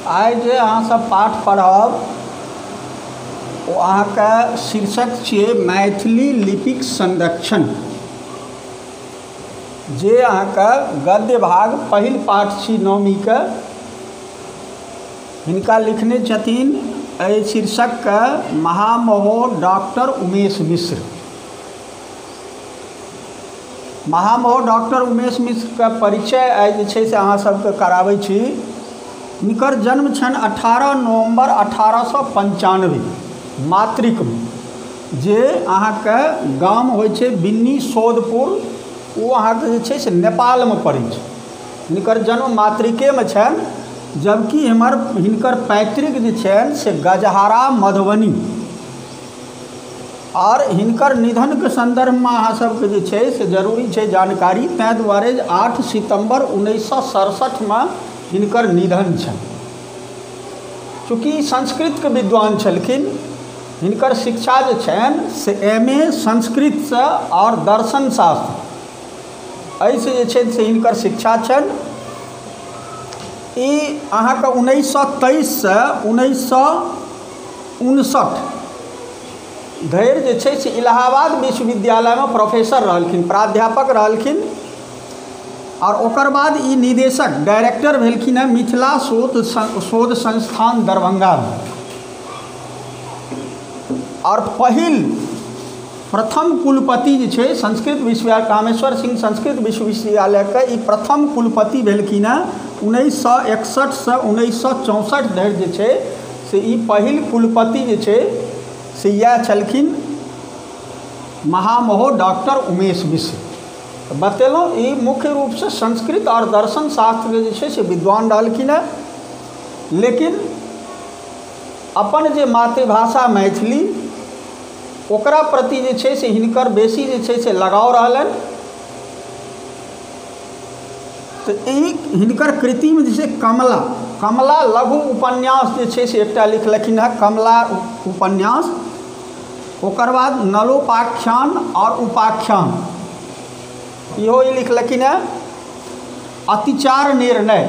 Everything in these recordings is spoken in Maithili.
आइ जे अहाँसभ पाठ पढ़ब ओ अहाँके शीर्षक छियै मैथिली लिपिक संरक्षण जे अहाँके गद्य भाग पहिल पाठ छी नौमीके हिनका लिखने छथिन एहि शीर्षकके महामहोर डॉक्टर उमेश मिश्र महामहो डॉक्टर उमेश मिश्रके परिचय आइ जे छै से अहाँ सबके कराबै छी हुनकर जन्म छनि अठारह नवम्बर अठारह सए पञ्चानबे मातृकमे जे अहाँके गाम होइ छै बिन्नी सौदपुर ओ अहाँके जे छै से नेपालमे पड़ै छै हिनकर जन्म मातृकेमे छनि जबकि हमर हिनकर पैतृक जे छनि से गजहरा मधुबनी आओर हिनकर निधनके सन्दर्भमे अहाँ सबके जे छै से जरूरी छै जानकारी तैं दुआरे जे आठ सितम्बर उन्नैस सए सरसठमे हिनकर निधन छनि चूँकि संस्कृतके विद्वान छलखिन हिनकर शिक्षा जे छनि से एम ए संस्कृतसँ आओर दर्शन शास्त्र एहिसँ जे छै से हिनकर शिक्षा छनि ई अहाँके उन्नैस सए तेइससँ उन्नैस सए उनसठ धरि जे छै से इलाहाबाद विश्वविद्यालयमे प्रोफेसर रहलखिन प्राध्यापक रहलखिन आओर ओकर बाद ई निदेशक डायरेक्टर भेलखिन हँ मिथिला शोध शोध संस्थान दरभंगामे आओर पहिल प्रथम कुलपति जे छै संस्कृत विश्वविद्यालय कामेश्वर सिंह संस्कृत विश्वविद्यालयके ई प्रथम कुलपति भेलखिन हँ उन्नैस सए एकसठिसँ उन्नैस सए चौंसठि धरि जे छै से ई पहिल कुलपति जे छै से इएह छलखिन महामहो डॉक्टर उमेश मिश्र बतेलहुँ ई मुख्य रूपसँ संस्कृत आओर दर्शन शास्त्रके जे छै से विद्वान रहलखिन हेँ लेकिन अपन जे मातृभाषा मैथिली ओकरा प्रति जे छै से हिनकर बेसी जे छै से लगाव रहलनि तऽ एहि हिनकर कृतिमे जे छै कमला कमला लघु उपन्यास जे छै से एकटा लिखलखिन हँ कमला उपन्यास ओकर बाद नलोपाख्यान आओर उपाख्यान इहो ई लिखलखिन हँ अतिचार निर्णय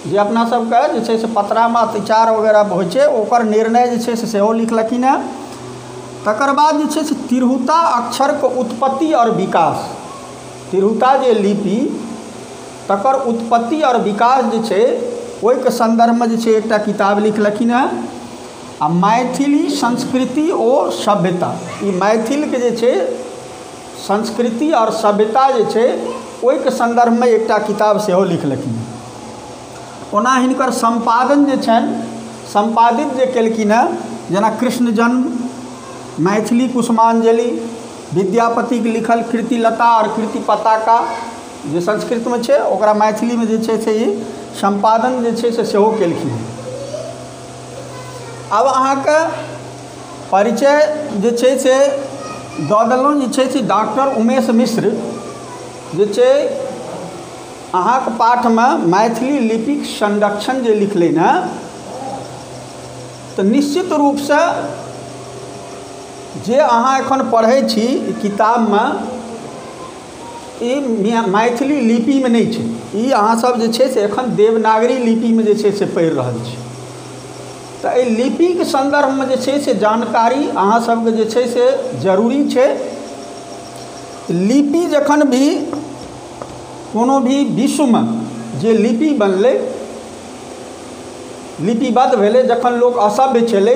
जे अपना सबके जे छै से पतरामे अतिचार वगैरह होइ छै ओकर निर्णय जे छै से सेहो लिखलखिन हँ तकर बाद जे छै से तिरहुता अक्षरके उत्पत्ति आओर विकास तिरहुता जे लिपि तकर उत्पत्ति आओर विकास जे छै ओहिके सन्दर्भमे जे छै एकटा किताब लिखलखिन हँ आओर मैथिली संस्कृति ओ सभ्यता ई मैथिलके जे छै संस्कृति आओर सभ्यता जे छै ओहिके सन्दर्भमे एकटा किताब सेहो लिखलखिन हँ ओना हिनकर सम्पादन जे छनि सम्पादित जे केलखिन हँ जेना कृष्ण जन्म मैथिली कुसुमाञ्जलि विद्यापतिक लिखल कृति लता आओर कृति पताका जे संस्कृतमे छै ओकरा मैथिलीमे जे छै से ई सम्पादन जे छै से सेहो केलखिन हेँ आब अहाँके परिचय जे छै से दऽ देलहुँ जे छै से डॉक्टर उमेश मिश्र जे छै अहाँके पाठमे मैथिली लिपिक संरक्षण जे लिखलनि हेँ तऽ निश्चित रूपसँ जे अहाँ एखन पढ़ै छी ई किताबमे ई मैथिली लिपिमे नहि छै ई अहाँसभ जे छै से एखन देवनागरी लिपिमे जे छै से पढ़ि रहल छी तऽ एहि लिपिक सन्दर्भमे जे छै से जानकारी अहाँसभके जे छै से जरूरी छै लिपि जखन भी कोनो भी विश्वमे जे लिपि बनलै लिपिबद्ध भेलै जखन लोक असभ्य छलै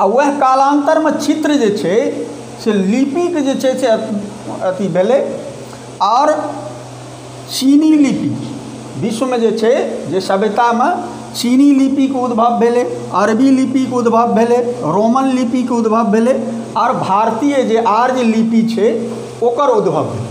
आ वएह कालान्तरमे चित्र जे छै से लिपिक जे छै से अथी भेलै आओर चीनी लिपि विश्वमे जे छै जे सभ्यतामे चीनी लिपिक उद्भव भेलै अरबी लिपिक उद्भव भेलै रोमन लिपिक उद्भव भेलै आओर भारतीय जे आर्य लिपि छै ओकर उद्भव भेलै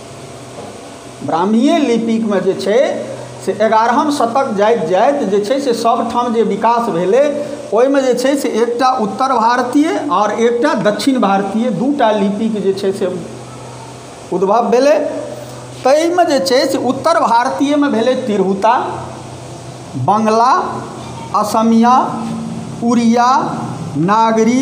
ब्राह्मीए लिपिकमे जे छै से एगारहम शतक जाइत जाइत जे छै से सभठाम जे विकास भेलै ओहिमे जे छै से एकटा उत्तर भारतीय आओर एकटा दक्षिण भारतीय दू टा लिपिके जे छै से उद्भव भेलै ताहिमे जे छै से उत्तर भारतीयमे भेलै तिरहुता बंगला असमिया उड़िया नागरी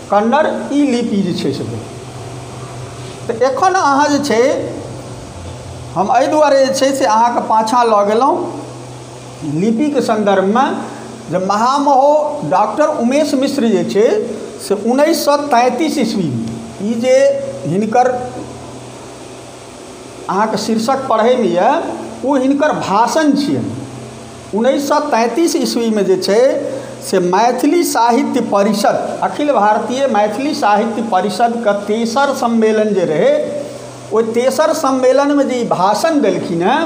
कन्नड़ ई लिपि जे छै से भेलै तऽ एखन अहाँ जे छै हम एहि दुआरे जे छै से अहाँके पाछाँ लऽ गेलहुँ लिपिके सन्दर्भमे जे महामहो डॉक्टर उमेश मिश्र जे छै से उनैस सओ तैँतिस इस्वीमे ई जे हिनकर अहाँके शीर्षक पढ़ैमे अइ ओ हिनकर भाषण छिअनि उन्नैस सए तैंतीस ईस्वीमे जे छै से मैथिली साहित्य परिषद अखिल भारतीय मैथिली साहित्य परिषदके तेसर सम्मेलन जे रहै ओहि तेसर सम्मेलनमे जे ई भाषण देलखिन हँ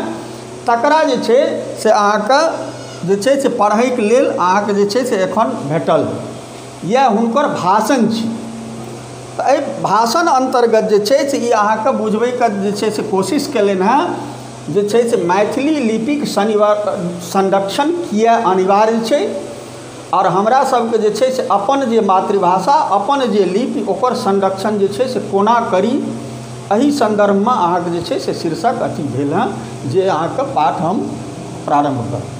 तकरा जे छै से अहाँके जे छै से पढ़ैके लेल अहाँके जे छै से एखन भेटल इएह हुनकर भाषण छी तऽ एहि भाषण अन्तर्गत जे छै से ई अहाँके बुझबैके जे छै से कोशिश केलनि हँ जे छै से मैथिली लिपिक संरक्षण किए अनिवार्य छै आओर हमरा सबके जे छै से अपन जे मातृभाषा अपन जे लिपि ओकर संरक्षण जे छै से कोना करी एहि सन्दर्भमे अहाँके जे छै से शीर्षक अथी भेल हँ जे अहाँके पाठ हम प्रारम्भ करब